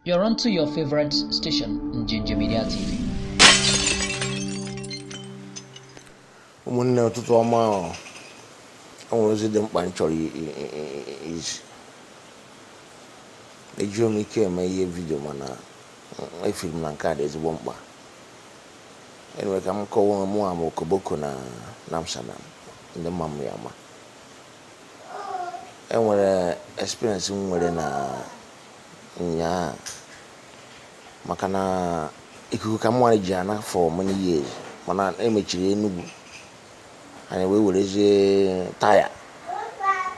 You're on to your favorite station, Njinji Media TV. ụmụnne ụtụtụ ọma o, o nwere ozi dị mkpa m chọrọ i- i- i- i- izi ejighị m ike eme ihe vidio mana mm, efiri m na nke a dị ezigbo mkpa enwere ka m kọwa onwe mụ ama okoboko na na Amsterdam ndị ma m ya-ama enwere experience m nwere na nyaa maka na ikuku ka mụnwa ji ana for many years mana emechiri Enugu anyị wee werezie taya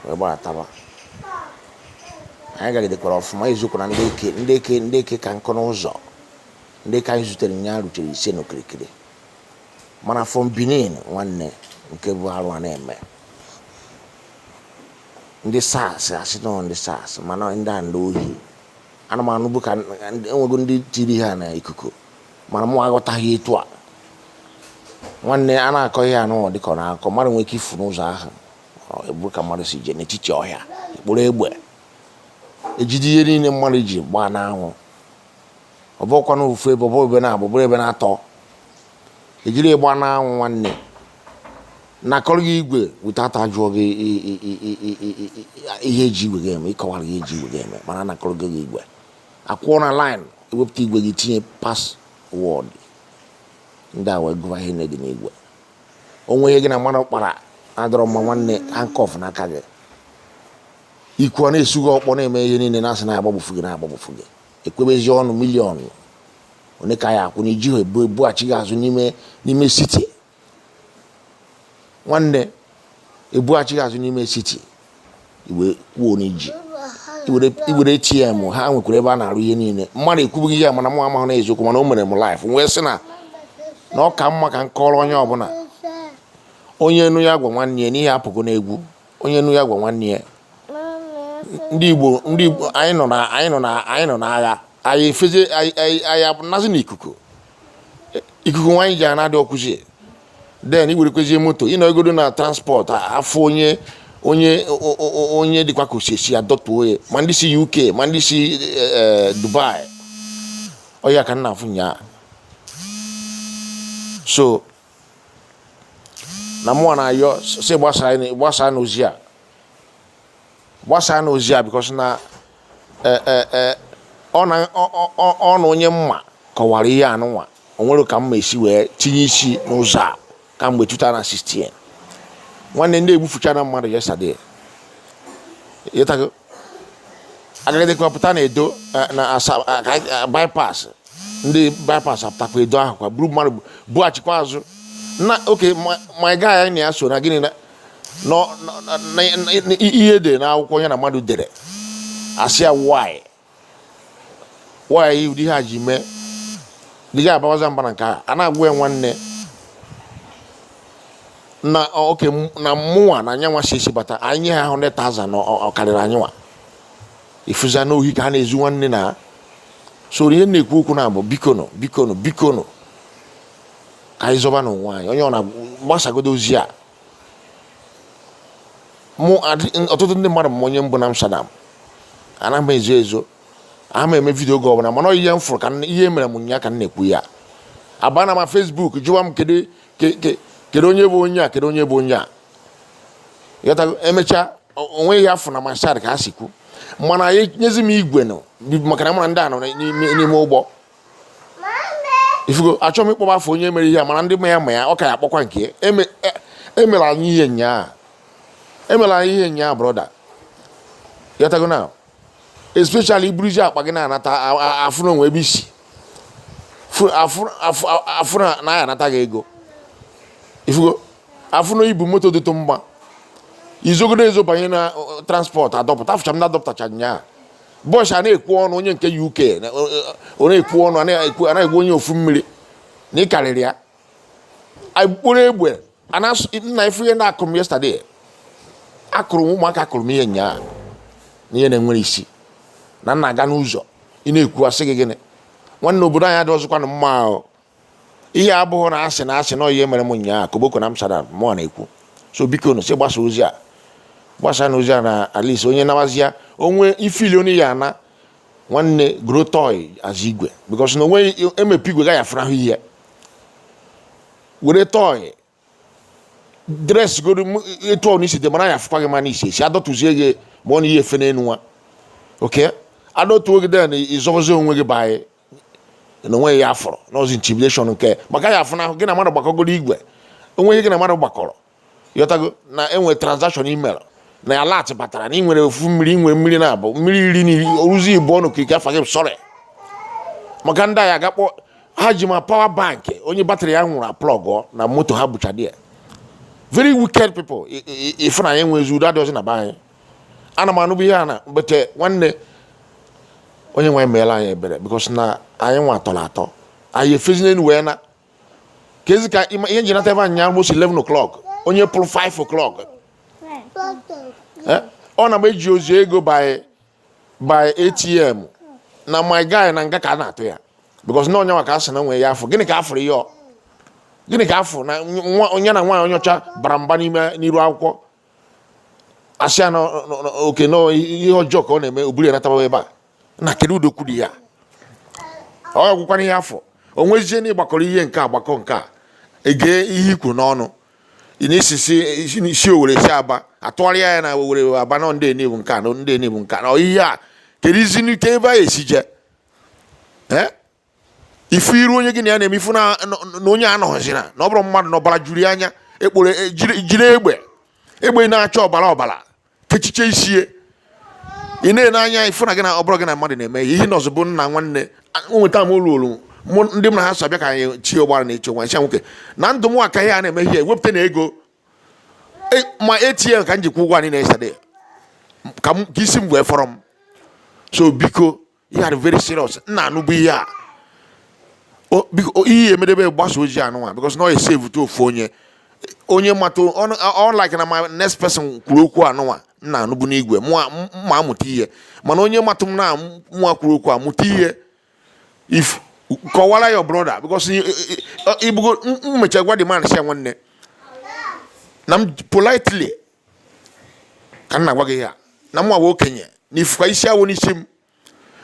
wee gbataba anyị gagidekwara ọfụma izukwara ndị eke ndị eke ndị eke ka nkụ n'ụzọ ndị eke anyị zutere nyaa rutere iri ise na kịrịkịrị mana from Benin nwanne nke bụ arụ a na-eme ndị SARS asị na ọ ndị SARS mana ndị a ndị ohi ana m anụbu ka enwego ndị tiri ha na ikuku mana mụ aghọtaghị etu a nwanne a na-akọ ihe anụwa dịka ọ na-akọ mmadụ nwere ike ifu n'ụzọ ahụ ebu ka mmadụ isii jee n'etiti ọhịa ekporo egbe ejide ihe niile mmadụ ji gbaa n'anwụ ọ bụkwa na ofu ebe ọ bụrụ ebe n'abụ bụrụ ebe n'atọ ejiri ịgba n'anwụ nwanne anakọrọ gị igwe weta ajụọ gị ihe eji igwe gị eme ị kọwara ha ihe eji igwe gị eme mana anakọrọ gị gị igwe akwụọ na line i wepụta igwe gị tinye password ndị a wee gụwa ihe dị n'igwe o nwee ihe gị na mmadụ kpara adịrọ mma nwanne handcuff n'aka gị i kwuo a na-esu gị ọkpọ na-eme ihe niile na-asị na agbagbufu gị na agbagbufu gị ekwebezi ọnụ million ole ka ị ya-akwụ na i ji ha ebu ebughachi gị azụ n'ime n'ime city nwanne ebughachi gị azụ n'ime city i wee kwuo na i ji i were ATM ha nwekwara ebe a na-arụ ihe niile mmadụ ekwubugo ya mana mụ amahụ na ọ eziokwu mana o mere m live wee sị na na ọ ka mma ka m kọrọ onye ọbụla onye nụ ya gwa nwanne ya n'ihe apụgo n'egwu onye nụ ya gwa nwanne ya ndị Igbo ndị Igbo anyị nọ na anyị nọ na anyị nọ n'agha anyị efezie anyị anazi n'ikuku ikuku nwa anyị ji ana adịrọkwuzi then i werekwuzie moto ị nọgodo na transport afụ onye onye onye dịkwa ka o si ezi adọtuo ya ma ndị si UK ma ndị si e, e, Dubai ọ ya ka m na-afụ nyaa so na mụnwa na-ayọ sị gbasaanụ ozi a gbasaanụ ozi a because na e, e, e, ọ na onye m ma kọwara ihe anụnwa o nwere ka m ma-esi wee tinye isi n'ụzọ a kamgbe 2016 nwanne ndị a egbufuchana mmadụ yesterday agagidekwa pụta na Edo eh, na eh, eh, bypass ndị bypass apụtakwa Edo ahụ kwa buru mmadụ bughachikwa azụ na okay my guy anyị na ya so na gịnị ihe dị n'akwụkwọ ya na mmadụ dere asị ya why why ụdị ihe a ji mee dị ga abawaza mba na nke a a na-agwa ya nwanne na okay na mmụnwa na nyanwa si esi bata anyị nye ha 100,000 na ọ karịrị anyịnwa ị fụzia na ohi ka ha na-ezu nwanne na so ihe na-ekwu okwu na-abụ bikonụ bikonụ bikonụ ka anyị zọbanụ onwe anyị onye ọna gbasagodo ozi a mụ ọtụtụ ndị mmadụ ma onye m bụ na Amsterdam ana m ezo ezo ama m eme video oge ọbụla mana ihe m fụrụ ka ihe e mere m nyaa ka m na-ekwu ya abana ma Facebook jụwa m kedu kedu onye bụ onye a kedu onye bụ onye a emechaa o nwe ihe a fụ na masad ka ha si kwu mana anyị nyezi m igwe nụ maka na m ma ndị a nọ n'ime ụgbọ ifugo achọghị m ịkpọba afa onye mere ihe a mana ndị ma ya ma ya ọ ka ya akpọkwa nke emela e, e anyị ihe nyaa emela anyị ihe nyaa brother ị ghọtago na especially i buru jii akpa gị na-anata afụ na o nwe ebe i si afụ na ya anata gị ego ifugo afụ na i bu moto dịtụ mma i zogodo ezo banye na transport adọpụta afụcha m na adọpụtacha nyaa boss a na-ekwu ọnụ onye nke UK ọ na-ekwu ọnụ anaghị onye ofu mmiri na ịkarịrị ya akpụrụ egbe nna ị fụ ihe ndị a kụrụ m yesterday akụrụ m ụmụaka kụrụ m ihe nyaa na ihe na-enwerọ isi na m na-aga n'ụzọ ị na-ekwu asị gị gịnị nwanne obodo anyị adịrọzikwanụ mma o ihe a abụghị na asị na asị na ihe mere m nyaa Koboko na Amsterdam mụwa na-ekwu so bikonụ si gbasa ozi a gbasanụ ozi a na at least onye nawazia onwe ifili onye ya ana nwanne goro toy as igwe because na onwe emepe igwe gaghị afụnahụ ihe were toy dress goro etu ọna i si dị mana ya afụkwa gị mana i si esi adọtụzie gị ma ọ na ihe efe n'elu nwa okay adọtuo gị then i zozie onwe gị banyị na onwe ya afọrọ n'ọzi intimidation nke maka ya afụ na gị na mmadụ gbakọgoro igwe onwe ihe gị na mmadụ gbakọrọ ị ghọtago na enwe transaction e mere na alert batara na ị nwere ofu mmiri ị nwere mmiri na-abụ mmiri iri na iri oruzi ibu ọnụ ka ike afa gị sorry maka ndị a ya ga-akpọ ha ji ma power bank onye battery ya nwụrụ aplugụọ na moto ha bụcha they are very wicked people ife na anyị nwe ezi udo adịghịzi na be anyị ana m anụbụ ihe a na but nwanne onye nwe meela anyị ebere because na anyị nwa atọla atọ anyị efezina enu wee na ka ezi ka ihe m ji nata be anyị almost 11 o'clock onye pụrụ 5 o'clock ọ na m eji ozi ego by by atm na my guy na nga ka a na-atụ ya because na onyenwa ka a sị na nwee ya afọ gịnị ka afụrụ ya gịnị ka afụ na nwa onye na nwaanyị onye ọcha bara mba n'ime n'iru akwụkwọ asị ya na oke na ihe ọjọọ ka ọ na-eme o buru ya natawa ebe a na kedu udo kwuru ya ọ gwụkwara ihe afụ o nwezie na ị gbakọrọ ihe nke a gbakọọ nke a egee ihe ikwu n'ọnụ n'isi Owere si Aba atụgharịa ya na Owere Aba na ndị Enugu nke a na ndị Enugu nke a na ihe a keduzi nke ebe a esi je ee ị fụ iru onye gị na ya na-eme ị fụ na na onye anọghịzi na na ọ bụrụ mmadụ na ọbara juru ya anya ekporo e, jiri jiri egbe egbe na-acha ọbara ọbara kechiche isi ị na-ele anya ị fụ na gị na ọ bụrụ gị na mmadụ na-eme ihe na ọzọ bụ nna nwanne nweta m olu olu mụ ndị m na ha so abịa ka anyị chi ụgbara na eche nwa ncha nwoke na ndụ m a ka ihe a na-eme ihe ewepụta na ego e, ma ATM ka m ji kwụ ụgwọ anyị na-esade ka isi m wee fọrọ m so biko ihe a very serious nna anụbụ ihe a ihe emedebe gbasaa ozi anụnwa because na ọ esaveute ofu onye onye matụ like na my next person kwuru okwu anụnwa nna anụbụ n'igwe ma amụta ihe mana onye matụ m na mụnwa kwuru okwu amụta ihe if kọwara your brother because ị fụgo m mechaa gwa the man sị nwanne na m politely ka m na-agwa gị ihe a na mụwa okenye na ị fụkwa isi awọ n'isi m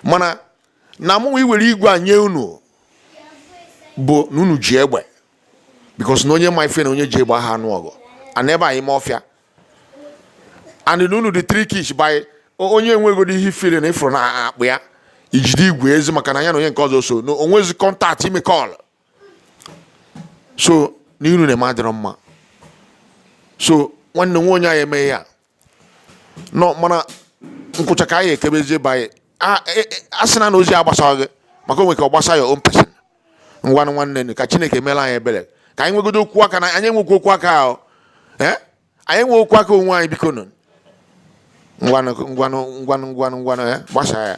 mana na mụ iwere igwe a nye unu bụ na unu ji egbe because na onye ma ife na onye ji egbe aha anụ ọgụ ana ebe ime ọfịa and na unu dị trickish by onye enweghị ihe ifere na ị fụrụ na akpa ya i jide igwe ezi maka na ya na onye nke ọzọ so na o nwezi contact ime call so n'ihe unu na-eme adịrọ mma so nwanne nwa onye anyị emeghị ya nọ mana nkwụcha ka anyị ekebezie be anyị A- e- e- a sị na na ozi a gbasaghị gị maka o nwere ka ọ gbasa your own person ngwanụ nwanne nụ, ka chineke meela anyị ebere ka anyị nwegodo okwu aka na anyị enwekwa okwu aka ahụ ee anyị enwe okwu aka onwe anyị biko nụ ngwanụ gbasaa ya